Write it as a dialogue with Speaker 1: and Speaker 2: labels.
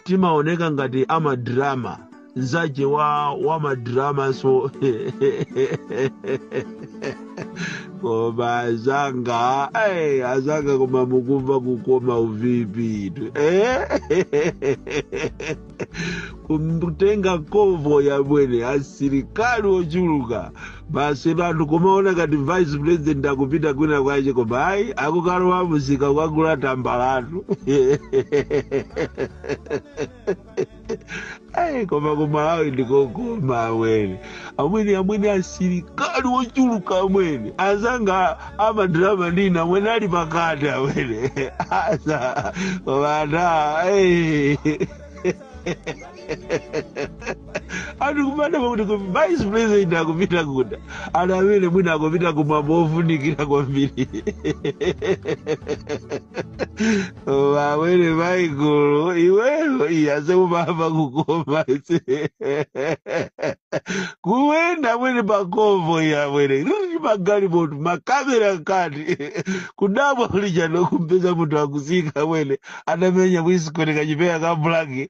Speaker 1: timaoneka ngati amadrama nzache wa madramanso koma azanga eh, azanga koma mukumva kukoma uVP-tu eh? kumtenga konvoyi amwene asilikali ochuluka basi anthu kumaona ngati vice president akupita kwina kwake koma ayi akukalowa mumsika kukagula tambalatu ayi koma kumalawi ndikokoma amwene amwene amwene asilikali ochuluka amwene azanga amadrama ndinu amwene ali pakati amwene asa koma ata anthu kumadabwa kuti vice president akupita kuti amwene mwina akupita kumwambo ofunikira kwambiri amwene maikulu iweyo iyaze kumamva kukoma ise kuyenda amwene pakonvoyi amwene riri magalimoto makamera kati kudabwa kuli chani kumpeza munthu akutsika amwene anamenya kuisikoni kachipeya ka blaki